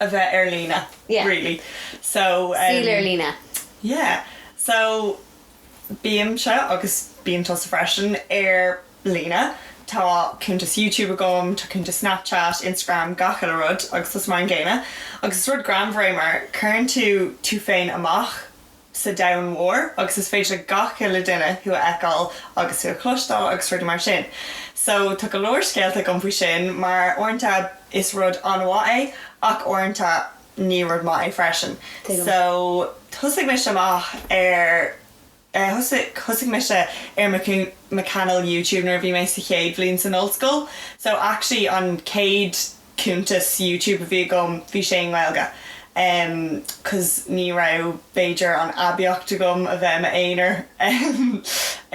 a bheith ar líne Yeah. really so Saol ar líne. Yeah so bímse agus bíonn tusa freisin ar líne tá cuntas Youtube agam tá cuntas Snapchat, Instagram gach uile rud agus tusa mar an gcéanna agus is rud greannmhar é mar cuireann tú tú féin amach sa domhan mhór agus is féidir le gach uile duine thú a fheiceáil agus tú a chloisteáil agus rudaí mar sin so tá go leor scéalta agam faoi sin mar uaireanta is rud an-mhaith é ach uaireanta ní rud maith é freisin so thosaigh mise amach ar eh thosaigh mise ar mo chainéal YouTube nuair a bhí mé sa chéad bhliain san ollscoil so actually an chéad cuntas YouTube a bhí agam bhí sé i nGaeilge em cos ní raibh b'fhéidir an aibíocht agam a bheith i m'aonar em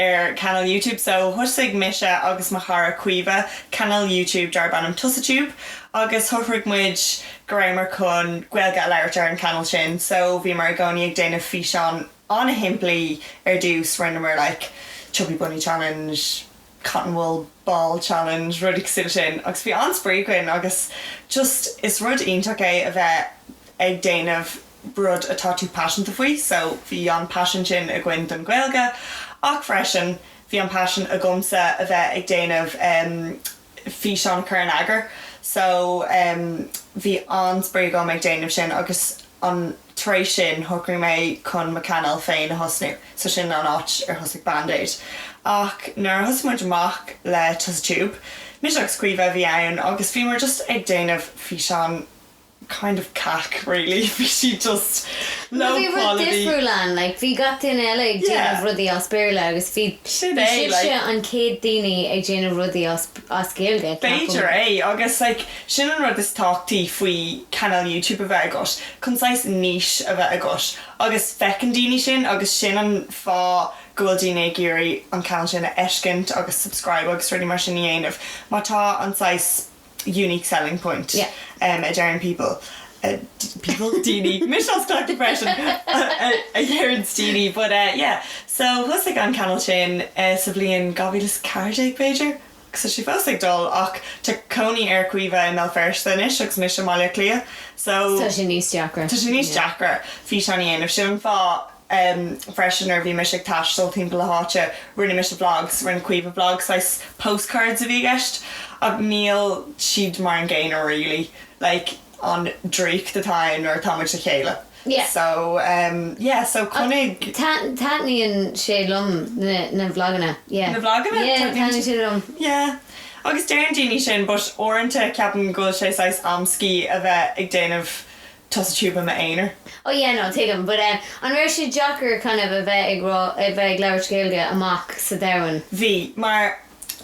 ar chainéal YouTube so thoisigh mise agus mo chara Caoimhe cainéal YouTube darb ainm Tusatube agus shocraigh muid go rabhamar chun Gaeilge a labhairt ar an cainéal sin so bhíomar i gcónaí ag déanamh físeán an-shimplí ar dtús rinneamar like chubby bunny challenge cotton wool ball challenge rudaí cosúil le sin agus bhí an-spraoi againn agus just is rud iontach é a bheith ag déanamh rud atá tú paiseanta faoi so bhí an paisean sin againn don Ghaeilge ach freisin bhí an paisean agamsa a bheith ag déanamh físeán cur in eagar so bhí an-spraoi agam ag déanamh sin agus an Tar éis sin, shocraigh mé chun mo chainéal féin a thosnú, so sin an áit ar thosaigh Bandeadd. Ach nuair a thosaigh muid amach le Tusa Tube, mise agus Caoimhe a bhí ann agus bhíomar just ag déanamh físeán kind of cac really, bhí siad just low quality. Bhí rud difriúil ann, like bhí gach duine eile ag déanamh rudaí as Béarla agus bhí sibhse an chéad daoine ag déanamh rudaí as. Gaeilge B'fhéidir é, agus like sin an rud is tábhachtaí faoi chainéal YouTube a bheith agat, chun saghas niche a bheith agat, agus feiceann daoine sin agus sin an fáth go bhfuil daoine ag iarraidh an cainéal sin a fheiscint agus subscribe agus rudaí mar sin a dhéanamh, mar tá an saghas unique selling point a deireann people. Bhuel daoine, mise ag cleachtadh freisin, a deireann daoine but eh yeah. So thosaigh an cainéal sin sa bhliain 2014 b'fhéidir agus tá sé fós ag dul ach tá cónaí ar Caoimhe i mBéal Feirste anois agus mise i mBaile Átha Cliath so tá sé níos deacra físeáin a dhéanamh sin an fáth em freisin nuair a bhí mise ag taisteal timpeall na háite rinne mise vlogs rinne Caoimhe vlog saghas postcards a bhí i gceist ach níl siad mar an gcéanna really like an draíocht atá ann nuair atá muid le chéile Yeah. so em yeah so Ach chonaic tat- taitníonn sé liom na na vlaganna yeah na vlaganna yeah taitníonn taitníonn siad liom yeah agus deireann daoine sin but uaireanta ceapaim go bhfuil sé saghas amscaí a bheith ag déanamh Tusa Tube i m'aonar. Oh yeah no tuigim but eh an raibh sé deacair kind of a bheith ag rá a bheith ag labhairt Gaeilge amach sa domhan? Bhí, mar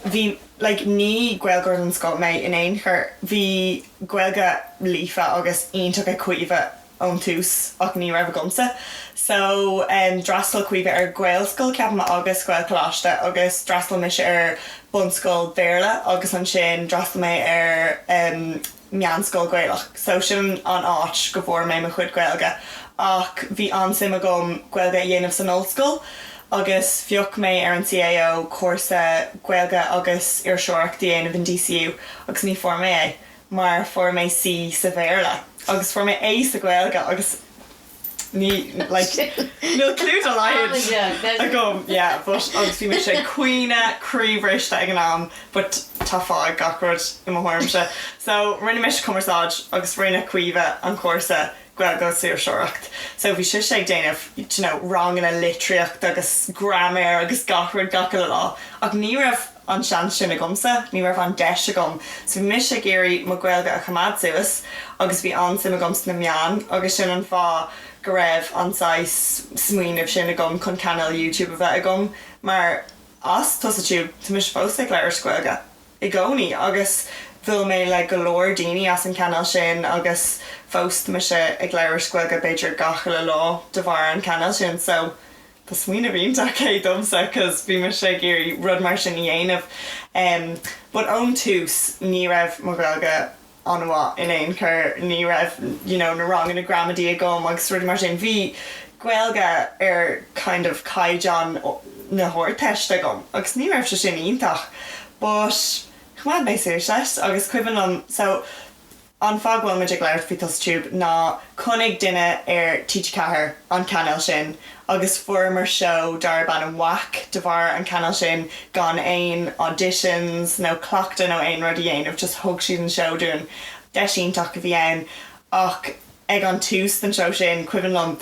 bhí like ní Gaeilgeoir den scoth mé in aon chor, bhí Gaeilge líofa agus iontach ag Caoimhe ón tús ach ní raibh agamsa so em d'fhreastail Caoimhe ar Ghaelscoil ceapaim agus Gaelcholáiste agus d'fhreastail mise ar bunscoil Bhéarla agus ansin d'fhreastail mé ar em meánscoil Gaelach. So sin an áit go bhfuair mé mo chuid Gaeilge. Ach bhí an-suim agam Gaeilge a dhéanamh san ollscoil agus phioc mé ar an CAO, cúrsa Gaeilge agus Iriseoireacht a dhéanamh in DCU agus ní fuair mé é mar fuair mé C sa Bhéarla agus fuair mé A sa Ghaeilge agus ní, like, níl clue dá laghad agam, yeah, but, agus bhí mise ag caoineadh croíbhriste ag an am but tá fáth ag gach rud i mo thuairimse. So, rinne mise cumarsáid agus rinne Caoimhe, an cúrsa, Gaeilge agus Iriseoireacht, so bhí sise ag déanamh, d'you know, ranganna litríochta agus graiméir agus gach rud gach uile lá ach ní raibh, an seans sin agamsa, ní raibh an deis agam so bhí mise ag iarraidh mo Gaeilge a choimeád suas agus bhí an-suim agam sna meáin agus sin an fáth go raibh an saghas smaoineamh sin agam chun cainéal YouTube a bheith agam mar as Tusa Tube tá mise fós ag labhairt Gaeilge i gcónaí agus bhuail mé le go leor daoine as an cainéal sin agus fós tá mise ag labhairt Gaeilge b'fhéidir gach uile lá de bharr an cainéal sin so Tá smaoineamh iontach é domsa 'cause bhí mise ag iarraidh rud mar sin a dhéanamh em but ón tús ní raibh mo Ghaeilge an-mhaith in aon chor, ní raibh you know na ranganna gramadaí agam agus rudaí mar sin, bhí Gaeilge ar kind of caighdeán na hArdteiste agam agus ní raibh sé sin iontach but choimeád mé suas leis agus cuimhin liom so, An fáth go bhfuilimid ag labhairt faoi Tusa Tube ná chonaic duine ar TG4 an cainéal sin agus fuaireamar seó darb ainm WAC de bharr an cainéal sin gan aon auditions nó cleachtadh nó aon rud a dhéanamh just thug siad an seó dúinn. Deis iontach a bhí ann ach ag an tús den seó sin cuimhin liom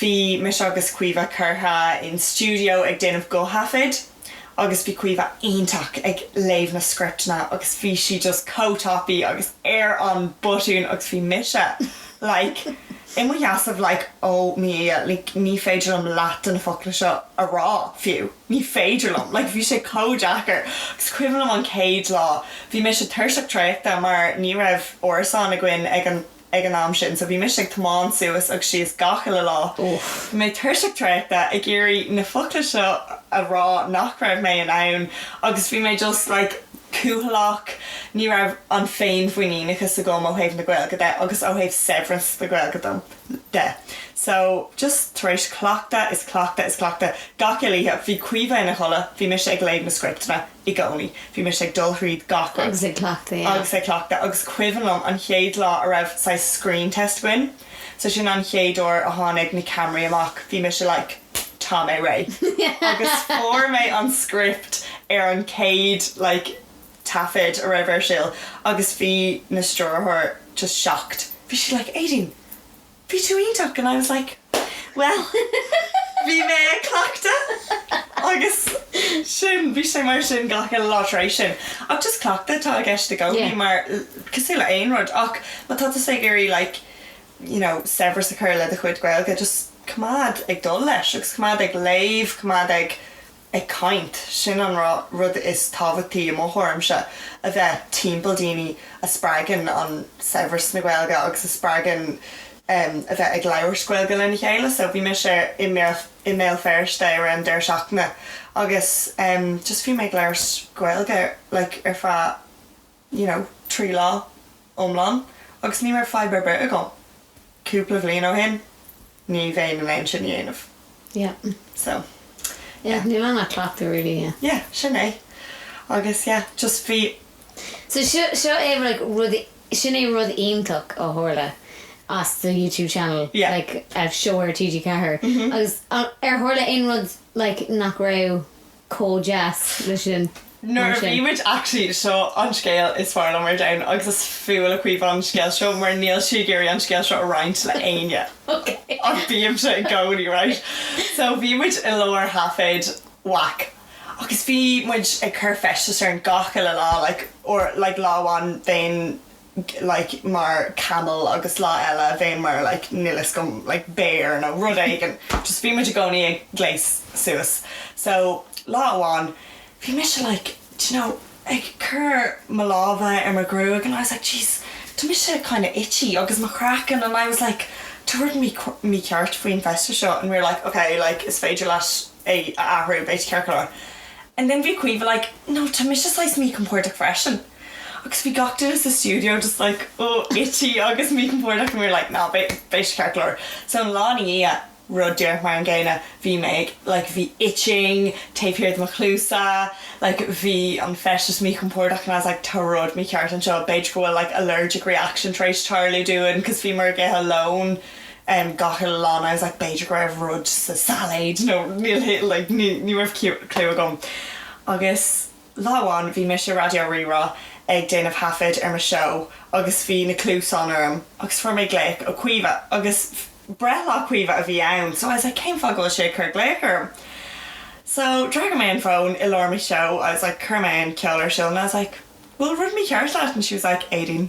bhí mise agus Caoimhe curtha in stiúideo ag déanamh guth-thaifead. agus bhí Caoimhe iontach ag léamh na scripteanna agus bhí sí just chomh tapaidh agus ar an mbutton agus bhí mise like in mo sheasamh like oh mo Dhia like ní féidir liom leath de na focla seo a rá fiú ní féidir liom like bhí sé chomh deacair agus is cuimhin liom an chéad lá bhí mise tuirseach traochta mar ní raibh árasán againn ag an ag an am sin so bhí mise ag tiomáint suas agus síos gach uile lá. Bhí mé tuirseach traochta ag iarraidh na focla seo a rá nach raibh mé in ann agus bhí mé just like cúthaileach, ní raibh an fhéinmhuiníneachas agam ó thaobh na Gaeilge de agus ó thaobh saibhreas na Gaeilge de. So just tar éis cleachtadh is cleachtadh is cleachtadh gach uile oíche, bhí Caoimhe ina codladh, bhí mise ag léamh na scripteanna, i gcónaí. Bhí mise ag dul thríd gach rud. Agus ag cleachtadh, yeah. Agus ag cleachtadh. Agus is cuimhin liom an chéad lá a raibh saghas screen test againn. So sin an chéad uair a tháinig na ceamaraí amach. Bhí mise like tá mé réidh. Agus fuair mé an script ar an chéad like taifead a raibh ar siúl. Agus bhí an stiúrthóir just shocked. Bhí sí like, Éadaoin! bhí tú iontach and I was like bhuel bhí mé ag cleachtadh agus sin bhí sé mar sin gach uile lá tar éis sin ach just cleachtadh atá i gceist i gcónaí cosúil le aon rud ach má tá tusa ag iarraidh like you know saibhreas a chur le do chuid Gaeilge just coimeád ag dul leis agus coimeád ag léamh coimeád ag ag caint. Sin an rud is tábhachtaí i mo thuairimse, a bheith timpeall daoine a spreagann an saibhreas na Gaeilge agus a spreagann a bheith ag labhairt Gaeilge lena chéile. So bhí mise i mBéal Feirste ar an deireadh seachtaine agus just bhí mé ag labhairt Gaeilge like ar feadh. you know, trí lá iomlán agus ní raibh fadhb ar bith agam. Cúpla bhliain ó shin, ní bheinn in ann sin a dhéanamh. Yeah. So, yeah. Yeah, níl ann ach cleachtadh really, yeah. Yeah, sin é. Agus, yeah, just bhí. So seo, seo é like rud, sin é rud iontach a tharla as an YouTube channel. Yeah. Like, a show ar TG4. Agus ar tharla aon rud like nach raibh. chomh deas le sin mar sin. Nuair a bhí muid actually, seo an scéal is fearr liom ar domhan agus is fuath le Caoimhe an scéal seo mar níl sí ag iarraidh an scéal seo a roinnt le éinne Ok. ach bímse i gcónaí right so bhí muid i lár thaifead whack agus bhí muid ag cur feisteas orainn gach uile lá like or like lá amháin déan like, mar camel agus lá eile bhéinn mar like, níl a fhios agam, like béar nó rud éigin. Just bhí muid i gcónaí ag gléas suas. So lá amháin bhí mise like, d'you know, ag cur mo lámha ar mo ghruaig and I was like, jeez, tá mise kinda itchy agus mo chraiceann and I was like, tá rud mícheart faoin feisteas seo and we were like, okay, like is féidir leat é a athrú, beidh tú ceart go leor. And then bhí Caoimhe like, no, tá mise saghas míchompordach freisin. Agus bhí gach duine sa stiúideo just like oh itchy agus míchompordach and we were like nah beidh sé ceart go leor. So an lá ina dhiaidh, rud díreach mar an gcéanna, bhí mé ag like bhí itching taobh thiar de mo chluasa like bhí an feisteas míchompordach and I was like tá rud mícheart anseo, b'fhéidir go bhfuil like allergic reaction tar éis tarlú dúinn because bhíomar ag ithe lón em gach uile lá and I was like b'fhéidir go raibh rud sa sailéid nó níl like ní raibh cliú agam agus Lá amháin bhí mise i Raidió Rí-Rá ag déanamh thaifead ar mo seó agus bhí na cluasáin orm agus fuair mé glaoch ó Caoimhe agus breithlá Caoimhe a bhí ann so I was like cén fáth go bhfuil sé ag cur glaoch orm? So d'fhreagair mé an fón i lár mo sheó I was like chuir mé an ceol ar siúl and I was like bhfuil rud mícheart leat and she was like Éadaoin.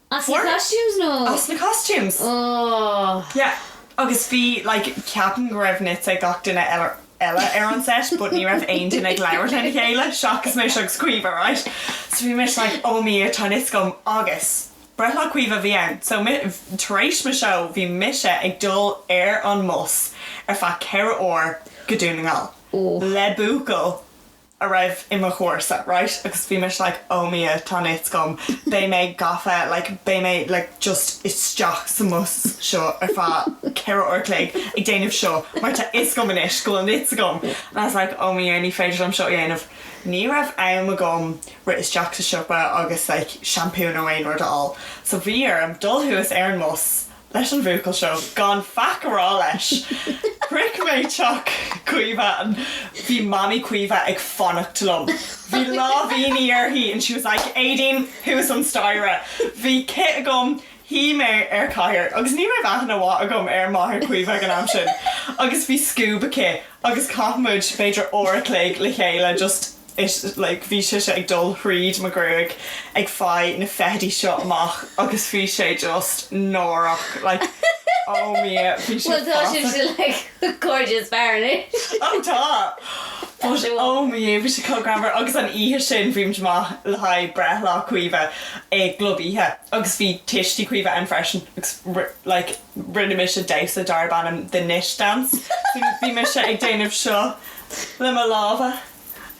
As na costumes nó? as na costumes. Ohh. Yeah, agus bhí like ceapaim go raibh nits ag gach duine eile ar an set but ní raibh aon duine ag labhairt lena chéile seachas mise agus Caoimhe right so bhí mise like oh mo Dhia tá nits agam agus breithlá Caoimhe a bhí ann so mi, tar éis mo show bhí mise ag dul ar an mbus ar feadh ceithre uair go Dún na nGall Ohh. le buachaill a raibh i mo chúrsa right agus bhí mise like oh mo Dhia tá nits agam beidh mé gafa like beidh mé like just isteach sa mbus seo ar feadh ceithre uair a chloig ag déanamh seo mar tá fhios agam anois go bhfuil nits agam and I was like oh mo Dhia ní féidir liom seo a dhéanamh ní raibh am agam rith isteach sa siopa agus like seampú nó aon rud a fháil so bhí orm dul thuas ar an mbus leis an bhuachaill seo gan faic a rá leis. Shroich mé teach Caoimhe and bhí Mamaí Caoimhe ag fanacht liom. Bhí láimhíní uirthi and she was like Éadaoin thuas an staighre. Bhí cith agam, shuigh mé ar chathaoir agus ní raibh aithne mhaith agam ar máthair Chaoimhe ag an am sin agus bhí scuab aici agus chaith muid b'fhéidir uair a chloig le chéile just is like bhí sise ag dul thríd mo ghruaig ag faigh na feithidí seo amach agus bhí sé just náireach like oh mo Dhia bhí sé fata. Bhuel tá sibhse like gorgeous fear anois. Oh tá but oh mo Dhia bhí sé chomh greannmhar agus an oíche sin bhí muid amach le haghaidh breithlá Caoimhe i gclub oíche agus bhí tuistí Caoimhe ann freisin agus like rinne mise damhsa darb ainm The Nit Dance bhí mise ag déanamh seo le mo lámha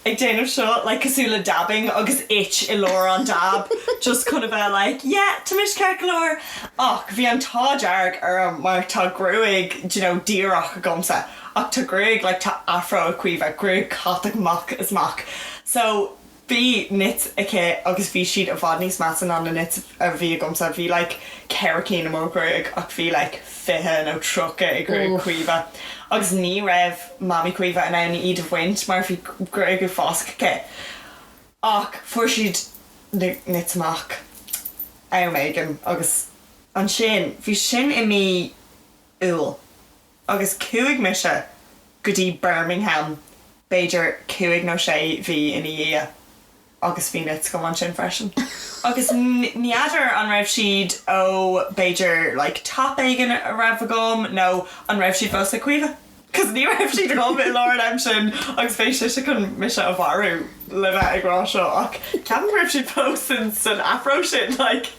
ag déanamh seo like cosúil le dabbing agus it i lár an dab just chun a bheith like yeah tá mise ceart go leor ach bhí an t-ádh dearg orm mar tá gruaig d'you know díreach agamsa ach tá gruaig like tá afro ag Caoimhe gruaig chatach amach is amach so bhí nits aici agus bhí siad i bhfad níos measa ná na nits a bhí agamsa bhí like ceithre cinn i mo ghruaig ach bhí like 20 nó 30 i ngruaig Uff. Chaoimhe agus ní raibh Mamaí Chaoimhe in ann iad a bhaint mar bhí gruaig ag fásach aici. Ach fuair siad na nits amach am éigin agus ansin bhí sin i mí Iúil agus chuaigh mise go dtí Birmingham b'fhéidir cúig nó sé mhí ina dhiaidh. agus bhí nits agam ansin freisin agus n'fheadar an raibh siad ó b'fhéidir like top éigin a raibh agam nó an raibh siad fós ag Caoimhe cos ní raibh siad agam i lár an am sin agus beidh sise chun mise a mharú le bheith ag rá seo ach ceapaim go raibh siad fós san san afro sin like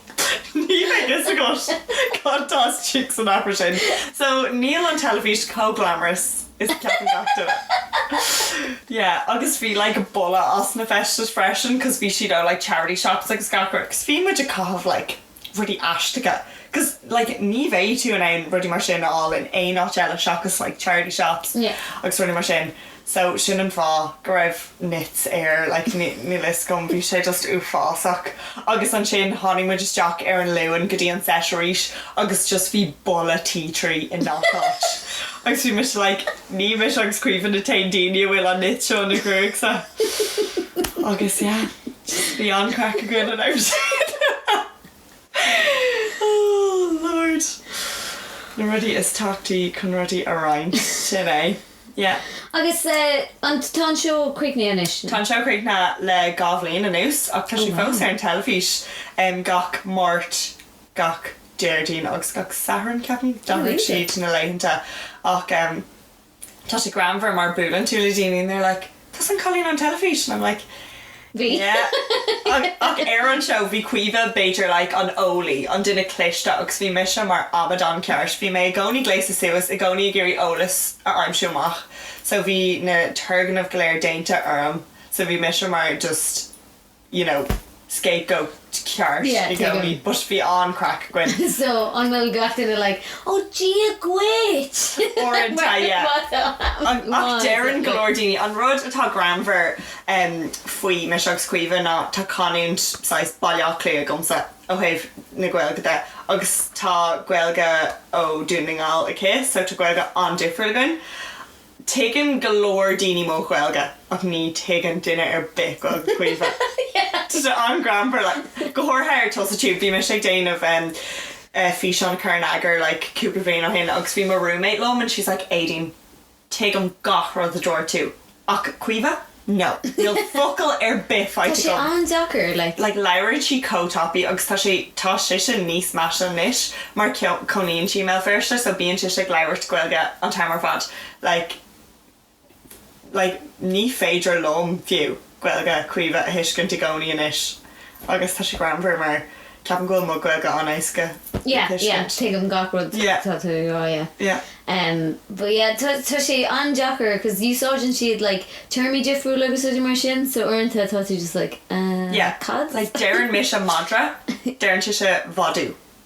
níl a fhios agat cad tá istigh san afro sin so níl an teilifís chomh glamorous Is a cheapann gach duine. Yeah agus bhí like boladh as na feistis freisin cos bhí siad ó like charity shops agus gach rud cos bhí muid ag caitheamh like rudaí aisteacha cos like ní bheidh tú in ann rudaí mar sin a fháil in aon áit eile seachas like charity shops agus rudaí mar sin so sin an fáth go raibh nits air like níl a fhios agam bhí sé just uafásach agus ansin tháinig muid isteach ar an Luan go dtí an seit arís agus just bhí boladh tea tree i ngach áit agus bhí mise like ní mise agus Caoimhe na haon daoine a bhfuil an nit seo ina ghruaigse agus yeah just bhí an-craic againn an am sin. Oh Lord. Na rudaí is tábhachtaí chun rudaí a roinnt. Sin é. Yeah. Agus an, tá an seó críochnaithe anois nó? Tá an seó críochnaithe le dhá bhliain anuas ach tá sé fós ar an teilifís gach Máirt, gach Déardaoin agus gach Satharn, ceapaim. D'athraigh siad na laethanta ach. Tá sé greannmhar mar buaileann tú le daoine and they're like tusa an cailín ón teilifís and I'm like Bhí. yeah ach ar an seó bhí Caoimhe b'fhéidir like an eolaí, an duine cliste agus bhí mise mar amadán ceart, bhí mé i gcónaí gléasta suas, i gcónaí ag iarraidh eolas a aimsiú amach so bhí na turgnaimh go léir déanta orm so bhí mise mar just you know, scapegoat ceart yeah, i gcónaí, but bhí an-craic againn. so, an bhfuil gach duine like, ó oh, dia dhuit! Uaireanta, yeah. An, ach deireann go leor daoine, an rud atá greannmhar um, faoi mise agus Caoimhe ná tá canúint saghas Baile Átha Cliath agamsa ó thaobh na Gaeilge de agus tá Gaeilge ó Dún na nGall aici, so tá Gaeilge an-difriúil againn. Tuigeann go leor daoine mo Ghaeilge ach ní thuigeann duine ar bith Gaeilge Caoimhe. Tá sé an-greannmhar like. Go háirithe ar TusaTube. Bhí mise ag déanamh em físeán a chur in eagar like cúpla bhliain ó shin agus bhí mo roommate liom and she's like Éadaoin, tuigim gach rud a dúirt tú ach Caoimhe? No. Níl focal ar bith faighte agam. Tá sé an-deacair, like. Like labhrann sí chomh tapaidh agus tá sé tá sise níos measa anois mar cónaíonn sí i mBéal Feirste so bíonn sise ag labhairt Gaeilge an t-am ar fad like like ní féidir liom fiú Gaeilge Caoimhe a thuiscint i gcónaí anois. Agus tá sé greannmhar mar ceapaim go bhfuil mo Gaeilge an-éasca a thuiscint. Yeah, yeah, tuigim gach rud atá tú ag rá, yeah. Yeah. Em, but yeah, tá tá sé an-deacair cos úsáideann siad like téarmaí difriúla agus rudaí mar sin so uaireanta tá tú just like, eh, Yeah, cad? like deireann mise madra, deireann sise madadh.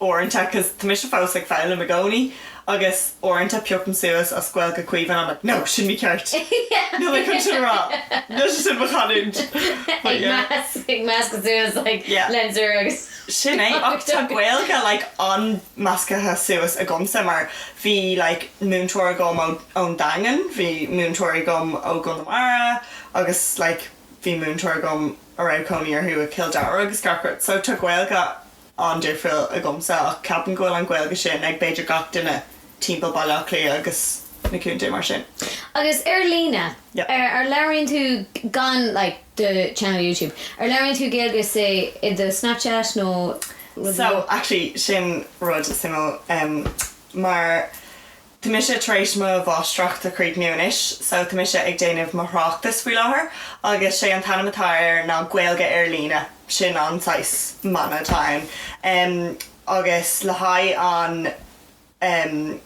uaireanta cause tá mise fós ag foghlaim i gcónaí agus uaireanta piocam suas as Gaeilge Caoimhe and I'm like no sin ní ceart níl mé chun sin a rá níl sé sin mo chanúint but yeah ag measc ag meascadh suas like yeah lens ar agus sin é ach tá Gaeilge like an-meascaithe suas agamsa mar bhí like múinteoir agam ón Daingean bhí múinteoirí agam ó Chonamara agus like bhí múinteoir agam a raibh cónaí orthu i Cill Dara agus gach rud so tá Gaeilge an-difriúil agamsa ach ceapaim go bhfuil an Gaeilge sin ag b'fhéidir gach duine timpeall Baile Átha Cliath agus na contae mar sin. Agus ar líne? Yep. An labhraíonn tú, gan like do channel YouTube, an labhraíonn tú Gaeilge say i do Snapchat nó rud mar. So, actually sin rud suimiúil em mar. Tá mise tar éis mo mháistreacht a chríochnú anois so tá mise ag déanamh mo thráchtas faoi láthair agus sé an t-ainm atá air ná Gaeilge Ar Líne, sin an saghas mana atá ann, em agus le haghaidh an em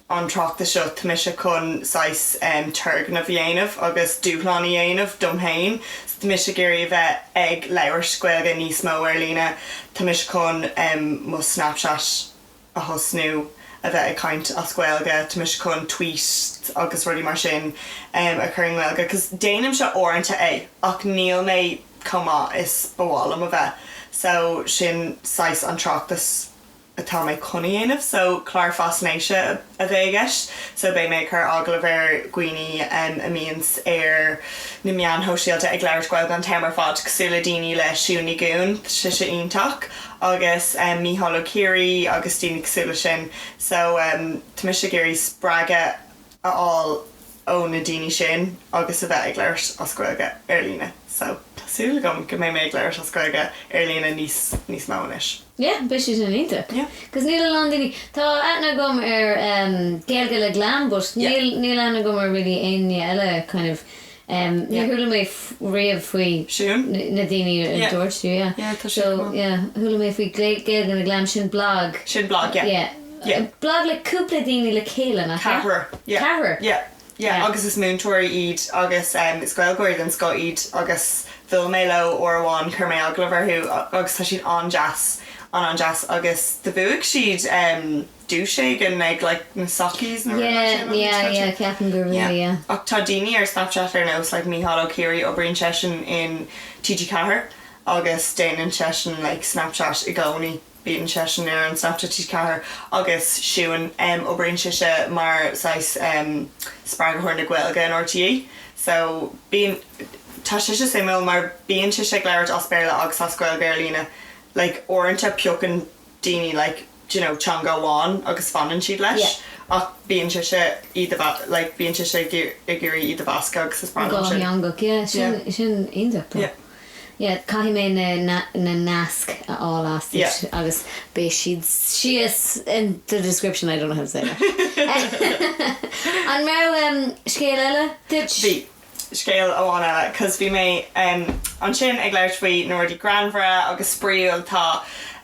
an tráchtas seo tá mise chun saghas em turgnamh a dhéanamh agus dúshlán a dhéanamh dom féin so tá mise ag iarraidh a bheith ag labhairt Gaeilge níos mó ar líne tá mise chun em mo Snapchat a thosnú a bheith ag caint as Gaeilge tá mise chun tweet agus rudaí mar sin a chur i nGaeilge because déanaimse uaireanta é ach níl mé chomh maith is ba mhaith liom a bheith so sin saghas an tráchtas atá mé chun a dhéanamh so clár faisnéise a bheidh i gceist so beidh mé ag cur agallamh ar dhaoine a mbíonns ar na meáin shóisialta ag labhairt Gaeilge an t-am ar fad cosúil le daoine le Siún Ní Dhuinn tá sise iontach. agus Mícheál Ó Ciaraidh agus daoine cosúil leis sin so tá mise ag iarraidh spreagadh a fháil ó na daoine sin agus a bheith ag labhairt as Gaeilge ar líne so tá súil agam go mbeidh mé ag labhairt as Gaeilge ar líne níos níos mó anois. Yeah, beidh sé sin iontach. Yeah. Cos níl a lán daoine, tá aithne agam ar em Gaeilge le Glam but níl níl aithne agam ar really éinne eile kind of Em níor chuala mé riamh faoi na daoine a dúirt tú yeah so yeah chuala mé faoi Gaeilge le Glam sin blog sin blog yeah yeah blog le cúpla daoine le chéile nach ea? Ceathrar yeah ceathrar yeah yeah agus is múinteoirí iad agus em is Gaeilgeoirí den scoth iad agus bhuail mé leo uair amháin chuir mé agallamh orthu agus tá siad an-deas an-an-deas agus do bhuaigh siad em dúirt sé gceann like na sockies nó rud mar sin yeah yeah yeah ceapaim gur yeah yeah ach tá daoine ar Snapchat ar nós like Mícheál Ó Ciaraidh oibríonn seisean in TG4 agus déanann seisean like Snapchat i gcónaí bíonn seisean ar an Snapchat TG4 agus Siún em oibríonn sise mar saghas em spreagthóir na Gaeilge in RTÉ so bíonn tá sise suimiúil mar bíonn sise ag labhairt as Béarla agus as Gaeilge ar líne like uaireanta piocann daoine like do you know, teanga amháin agus fanann siad leis ach bíonn sise iad a mhe, like bíonn sise ag iarraidh iad a mheascadh agus is breá liom sin. Dhátheangach, yeah, sin, sin iontach. Yeah. Yeah, caithfidh mé na, na, na naisc a fháil uaitse. Yeah. Agus beidh siad síos in the description, I don't know how to say that. An raibh scéal eile agat? Bhí. scéal amháin eile cause bhí mé ansin ag labhairt faoi na rudaí greannmhara agus spraíúil atá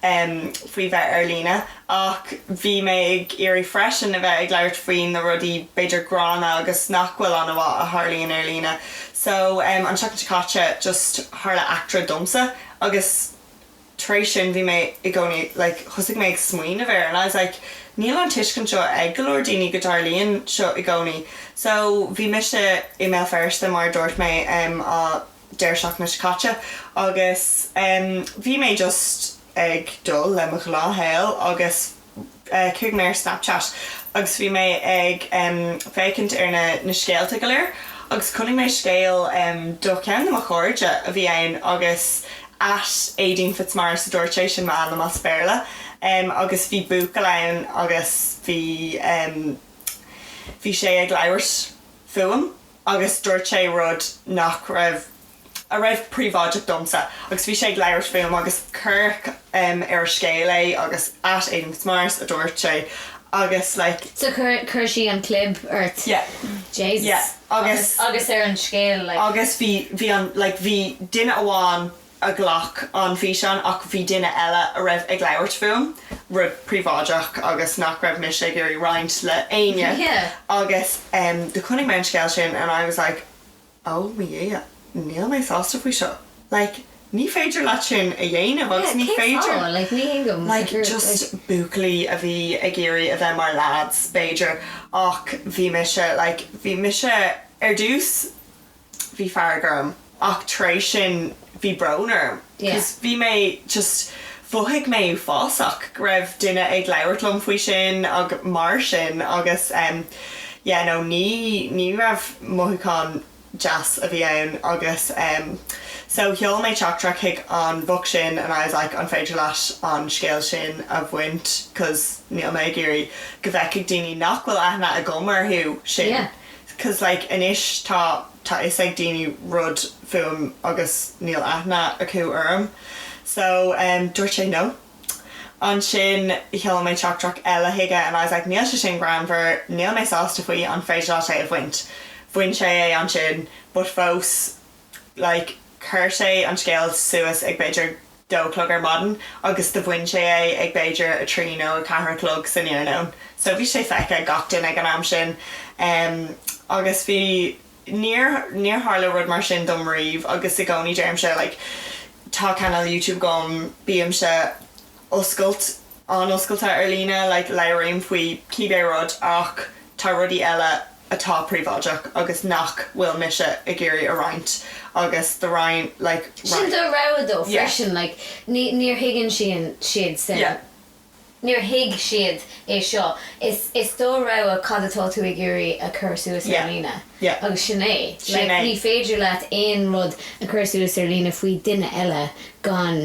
faoi bheith ar líne ach bhí mé ag iarraidh freisin a bheith ag labhairt faoi na rudaí b'fhéidir gránna agus nach bhfuil an-mhaith a tharlaíonn ar líne so an tseachtain seo caite just tharla eachtra domsa agus tar éis sin bhí mé i gcónaí like thosaigh mé ag smaoineamh air and I was like níl an tuiscint seo ag go leor daoine go dtarlaíonn seo i gcónaí so bhí mise i mBéal Feirste mar a dúirt mé um an deireadh seachtaine seo caite agus um bhí mé just ag dul le mo ghnáthshaol agus chuaigh mé ar Snapchat agus bhí mé ag féachaint ar na na scéalta go léir agus chonaic mé scéal de ceann de mo chairde a bhí ann agus at Éadaoin Fitzmaurice a dúirt sé sin m'ainm as Béarla agus bhí buachaill ann agus bhí bhí sé ag labhairt fúm agus dúirt sé rud nach raibh a raibh príobháideach domsa agus bhí sé ag labhairt fúm agus cuireadh ar a scéal é agus at Éadaoin Fitzmaurice a dúirt sé agus like. So chuir chuir sí an clib ort? Yeah Jesus yeah agus agus ar an scéal like. Agus bhí bhí an like bhí duine amháin a ghlac an físeán ach bhí duine eile a raibh ag labhairt fúm rud príobháideach agus nach raibh mise ag iarraidh roinnt le éinne yeah agus em do chonaic mé an scéal sin and I was like, oh mo Dhia, níl mé sásta faoi seo like ní féidir leat sin a dhéanamh agus ní féidir like just buachaillí a bhí ag iarraidh a bheith mar leaids b'fhéidir ach bhí mise like bhí mise ar dtús bhí fearg orm ach tar éis sin bhí brón orm cause bhí mé just mhothaigh mé uafásach go raibh duine ag labhairt liom faoi sin agus mar sin agus em yeah no ní ní raibh mothúchán deas a bhí ann agus em so sheol mé teachtaireacht chuig an bhoc sin and I was like an féidir leat an scéal sin a bhaint cause níl mé ag iarraidh go bhfeicfidh daoine nach bhfuil aithne agam orthu sin yeah cause like anois tá tá fhios ag daoine rud fúm agus níl aithne acu orm so em dúirt sé no. Ansin sheol mé teachtaireacht eile chuige and I was like níl sé sin greannmhar, níl mé sásta faoi, an féidir leat é a bhaint? Bhain sé é ansin but fós like chuir sé an scéal suas ag b'fhéidir dó a chlog ar maidin agus do bhain sé é ag b'fhéidir a trí nó a ceathair a chlog san iarnóin so bhí sé feicthe ag gach duine ag an am sin em agus bhí níor, níor tharla rud mar sin dom riamh agus i gcónaí deirimse like tá cainéal YouTube agam bímse oscailt, an-oscailte ar líne like labhraím faoi cibé rud ach tá rudaí eile. atá príobháideach agus nach bhfuil mise ag iarraidh a roinnt agus do roinn like roinn. Sin do rogha though freisin like ní níor thuigeann siad sin yeah. níor thuig siad é seo is is do rogha cad atá tú ag iarraidh a chur suas ar yeah líne yeah agus sin é sin like é. ní féidir leat aon rud a chur suas ar líne faoi duine eile gan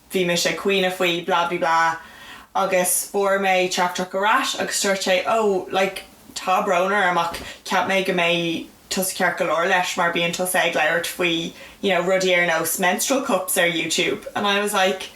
bhí mise ag caoineadh faoi blah bli blah agus fuair mé teachtaireacht ar ais agus dúirt sé oh like tá brón orm ach cheap mé go mbeidh tusa ceart go leor leis mar bíonn tusa ag labhairt faoi you know rudaí ar nós menstrual cups ar youtube and I was like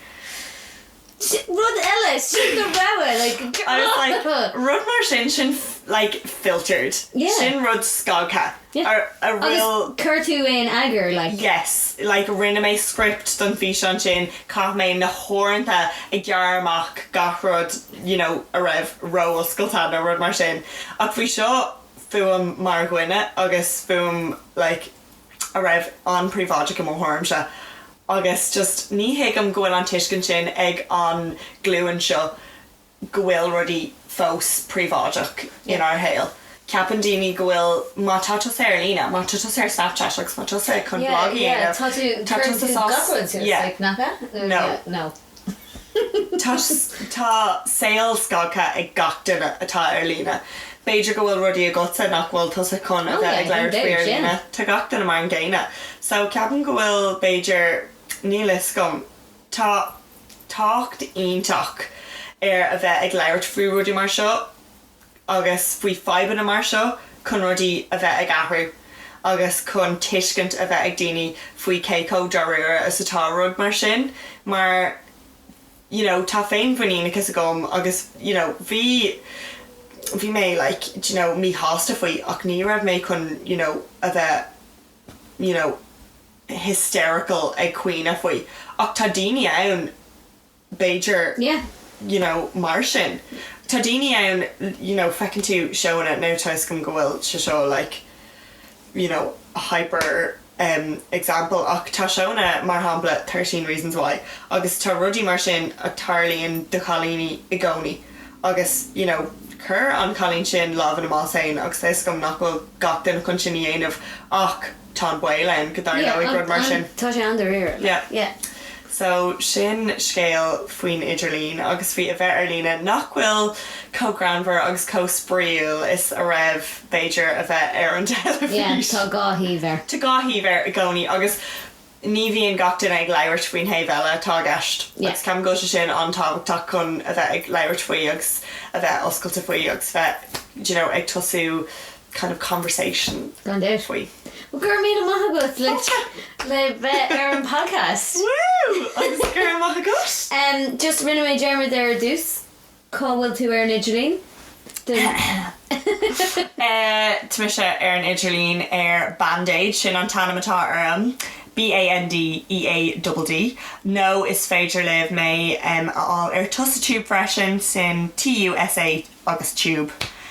Sin rud eile, sin do rogha like I was like rud mar sin sin like filtered, sin rud scagtha. yeah agus chuir tú é in eagar like. yes like rinne mé script don físeán sin chaith mé na huaireanta ag gearradh amach gach rud you know a raibh ró-oscailte nó rud mar sin ach bhí seo fúm mar dhuine agus fúm like a raibh an-príobháideach i mo thuairimse agus just ní thuigim go bhfuil an tuiscint sin ag an glúin seo go bhfuil rudaí fós príobháideach inár shaol. Ceapann daoine go bhfuil, má tá tusa ar líne, má tá tusa ar Snapchat agus má tá tusa chun blag a dhéanamh, tá tusa sásta. Tá saol scagtha ag gach duine atá ar líne. B'fhéidir go bhfuil rudaí agatsa nach bhfuil tusa chun a bheith ag labhairt faoi ar líne. Tá gach duine mar an gcéanna. So ceapaim go bhfuil, b'fhéidir, níl a fhios agam, Tá tábhacht iontach ar a bheith ag labhairt faoi rudaí mar seo agus faoi fadhbanna mar seo chun rudaí a bheith ag athrú agus chun tuiscint a bheith ag daoine faoi cé chomh dáiríre is atá rud mar sin mar you know tá féinmhuiníneachas agam agus you know bhí bhí mé like d'you know míshásta faoi ach ní raibh mé chun you know a bheith you know, hysterical ag caoineadh faoi ach tá daoine ann b'fhéidir yeah you know mar sin tá daoine ann you know feiceann tú seóanna now tá a fhios agam go bhfuil sé seo like you know hyper em example ach tá seóanna mar shampla Thirteen Reasons Why agus tá rudaí mar sin a tarlaíonn do chailíní i gcónaí. Agus, you know, chuir an cailín sin lámh ina bás féin agus tá a fhios agam nach bhfuil gach duine chun sin a dhéanamh ach tá an baol ann go dtarlóidh rud mar sin. Yeah, tá sé an-dáiríre, like, Yeah. yeah. So, sin scéal faoin idirlíon agus faoi a bheith ar líne nach bhfuil chomh greannmhar agus chomh spraíúil is a raibh b'fhéidir a bheith ar an teilifís. Yeah, tá dhá thaobh air. Tá dhá thaobh air i gcónaí agus. ní bhíonn gach duine ag labhairt faoin thaobh eile atá i gceist agus ceapaim go bhfuil sé sin an-tábhachtach chun a bheith ag labhairt faoi agus a bheith oscailte faoi agus a bheith you know ag tosú kind of conversation faoi. Gan dabht. Bhuel, go raibh míle maith agat le le bheith ar an podcast. Woo! Agus go raibh maith agat. Em, just rinne mé dearmad ar dtús. Cá bhfuil tú ar an idirlíon? Tá mise ar an idirlíon ar Bandeadd, sin an t-ainm atá orm, B-A-N-D-E-A-D-D, nó is féidir libh mé a fháil ar TusaTube freisin, sin T-U-S-A agus Tube.